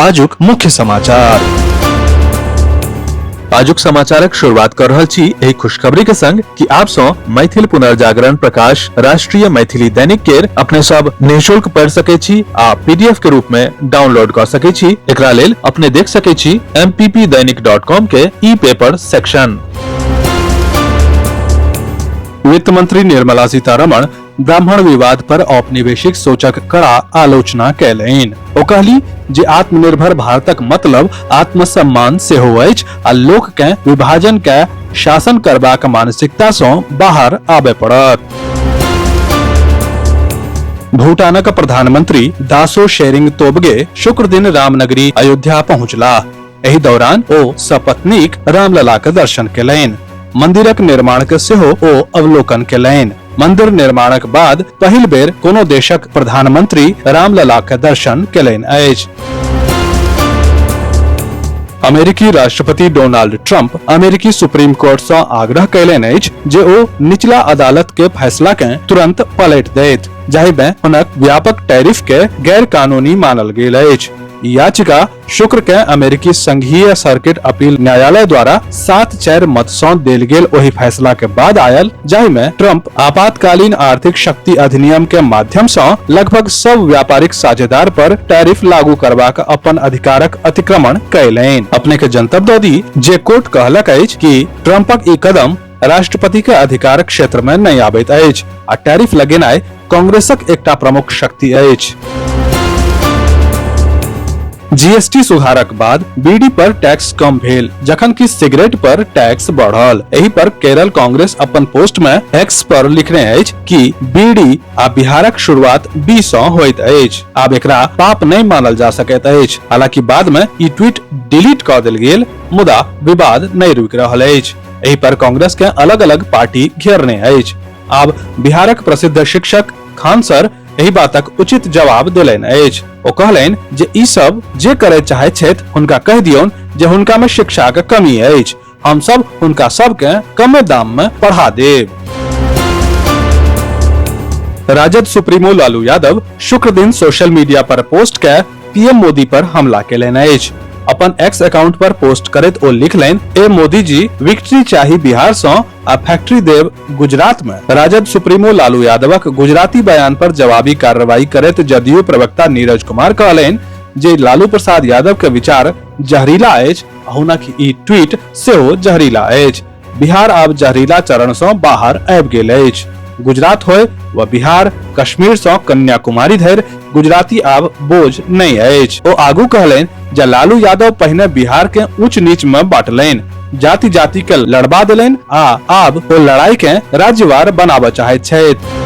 आजुक मुख्य समाचार आजुक समाचारक शुरुआत कर रहल छी एहि खुशखबरी के संग कि आप सो मैथिल पुनर्जागरण प्रकाश राष्ट्रीय मैथिली दैनिक केर अपने सब निशुल्क पढ़ सके छी आ पीडीएफ के रूप में डाउनलोड कर सके छी एकरा लेल अपने देख सके छी mppdainik.com के ई पेपर सेक्शन वित्त मंत्री निर्मला सीतारमण ब्राह्मण विवाद पर औपनिवेशिक सोचक कड़ा आलोचना कैलैन ओ कहली जे आत्मनिर्भर भारतक मतलब आत्मसम्मान से हो अछि आ लोक के विभाजन के शासन करबाक मानसिकता से बाहर आबे पड़त भूटानक प्रधानमंत्री दासो शेरिंग तोबगे शुक्र दिन रामनगरी अयोध्या पहुंचला एहि दौरान ओ सपत्नीक रामललाक दर्शन केलनि मंदिरक निर्माण के सेहो ओ अवलोकन केलनि मंदिर निर्माणक बाद पहिल बेर कोनो देशक प्रधानमंत्री रामलला के दर्शन केलनि अछि अमेरिकी राष्ट्रपति डोनाल्ड ट्रंप अमेरिकी सुप्रीम कोर्ट से आग्रह कैलनि अछि जे ओ निचला अदालत के फैसला के तुरंत पलट देत जाहि में हुनक व्यापक टैरिफ के गैर कानूनी मानल गेल अछि याचिका शुक्र के अमेरिकी संघीय सर्किट अपील न्यायालय द्वारा सात चार मत सौ देल गेल ओहि फैसला के बाद आयल जाहि में ट्रंप आपातकालीन आर्थिक शक्ति अधिनियम के माध्यम से लगभग सब व्यापारिक साझेदार पर टैरिफ लागू करवा का अपन अधिकारक अतिक्रमण कैलैन अपने के जनतब दी जे कोर्ट कहलक कि ट्रंपक ई कदम राष्ट्रपति के अधिकार क्षेत्र में नहीं आबैत अछि आ टैरिफ लगेनाय कांग्रेसक एकटा प्रमुख शक्ति अछि जीएसटी सुधारक बाद बीडी पर टैक्स कम भेल जखन कि सिगरेट पर टैक्स बढ़ल एहि पर केरल कांग्रेस अपन पोस्ट में एक्स पर लिखने अछि कि बीडी आ बिहारक शुरुआत बी सँ होइत अछि आब एकरा पाप नहि मानल जा सकैत अछि हालांकि बाद में ई ट्वीट डिलीट क देल गेल मुदा विवाद नहि रुकि रहल अछि एहि पर कांग्रेस के अलग अलग पार्टी घेरने अछि आब बिहारक प्रसिद्ध शिक्षक खान सर एहि बातक उचित जवाब देलनि अछि ओ कहलनि जे ई सब जे करय चाहे छथि हुनका कहि दियौन जे हुनका में शिक्षा के कमी अछि हम सब हुनका सब के कमे दाम में पढ़ा देब राजद सुप्रीमो लालू यादव शुक्र दिन सोशल मीडिया पर पोस्ट के पीएम मोदी पर हमला केलनि अछि अपन एक्स अकाउंट पर पोस्ट करैत ओ लिखलनि ए मोदी जी विक्ट्री चाही बिहार सँ आ फैक्ट्री देव गुजरात में राजद सुप्रीमो लालू यादवक गुजराती बयान पर जवाबी कार्रवाई करैत जदयू प्रवक्ता नीरज कुमार कहलनि जे लालू प्रसाद यादव के विचार जहरीला अछि आ हुनक ई ट्वीट सेहो जहरीला अछि बिहार आब जहरीला चरण सँ बाहर आबि गेल अछि गुजरात होय व बिहार कश्मीर सँ कन्याकुमारी धरि गुजराती आब बोझ नहि अछि ओ आगू कहलनि जे लालू यादव पहिने बिहार के ऊंच नीच मे बांटलनि जाति जाति के लड़बा देलनि आ आब ओ लड़ाई के राज्यवार बनाबऽ चाहैत छथि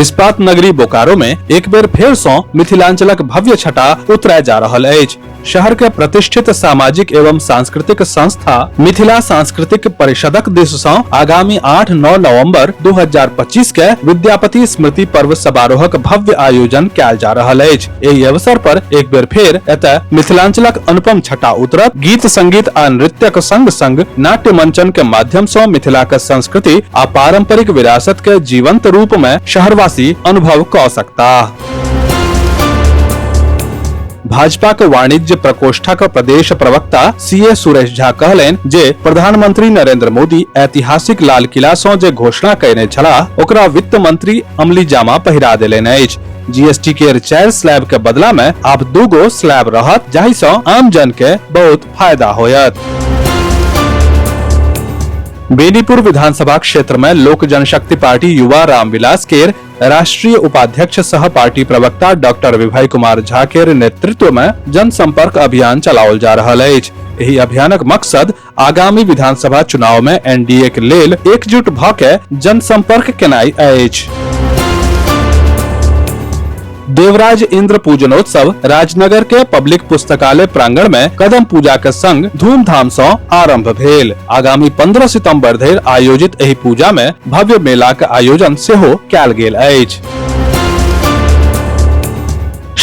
इस्पात नगरी बोकारो में एक बेर फेर सँ मिथिलांचलक भव्य छटा उतराय जा रहल अछि शहर के प्रतिष्ठित सामाजिक एवं सांस्कृतिक संस्था मिथिला सांस्कृतिक परिषदक दिस सँ आगामी 8-9 नवंबर 2025 के विद्यापति स्मृति पर्व समारोहक भव्य आयोजन कयल जा रहल अछि एहि अवसर पर एक बेर फेर एतय मिथिलांचलक अनुपम छटा उतरत गीत संगीत आ नृत्यक संग संग नाट्य मंचन के माध्यम सँ मिथिलाक संस्कृति आ पारंपरिक विरासत के जीवंत रूप में शहरवासी अनुभव क सकता भाजपाक वाणिज्य प्रकोष्ठक प्रदेश प्रवक्ता सी ए सुरेश झा कहलनि जे प्रधानमंत्री नरेंद्र मोदी ऐतिहासिक लाल किला सँ जे घोषणा कयने छलाह ओकरा वित्त मंत्री अमली जामा पहिरा देलनि अछि जीएसटी केर चारि स्लैब के बदला में आब दू गो स्लैब रहत जाहि सँ आम जन के बहुत फायदा होयत बेनीपुर विधानसभा क्षेत्र में लोक जनशक्ति पार्टी युवा रामविलास केर राष्ट्रीय उपाध्यक्ष सह पार्टी प्रवक्ता डॉक्टर विभय कुमार झा के नेतृत्व में जनसंपर्क अभियान चलाओल जा रहा है यही अभियानक मकसद आगामी विधानसभा चुनाव में एनडीए के लेल एकजुट भ के जनसंपर्क केनाई अछि देवराज इंद्र पूजनोत्सव राजनगर के पब्लिक पुस्तकालय प्रांगण में कदम पूजा के संग धूमधाम सँ आरंभ भेल आगामी 15 सितंबर धरि आयोजित एहि पूजा में भव्य मेला के आयोजन सेहो कैल गेल अछि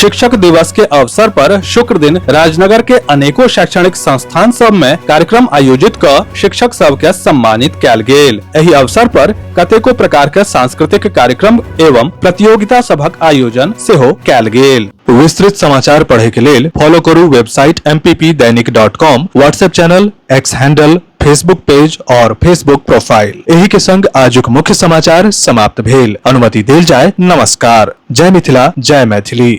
शिक्षक दिवस के अवसर पर शुक्र दिन राजनगर के अनेको शैक्षणिक संस्थान सब में कार्यक्रम आयोजित क शिक्षक सब के सम्मानित कैल गेल एहि अवसर पर कतेको प्रकार के सांस्कृतिक कार्यक्रम एवं प्रतियोगिता सभक आयोजन सेहो कैल गेल विस्तृत समाचार पढ़े के लेल फॉलो करू website M P P Dainik dot com WhatsApp channel X handle Facebook page और फेसबुक प्रोफाइल एही के संग आजुक मुख्य समाचार समाप्त भेल अनुमति देल जाय नमस्कार जय मिथिला जय मैथिली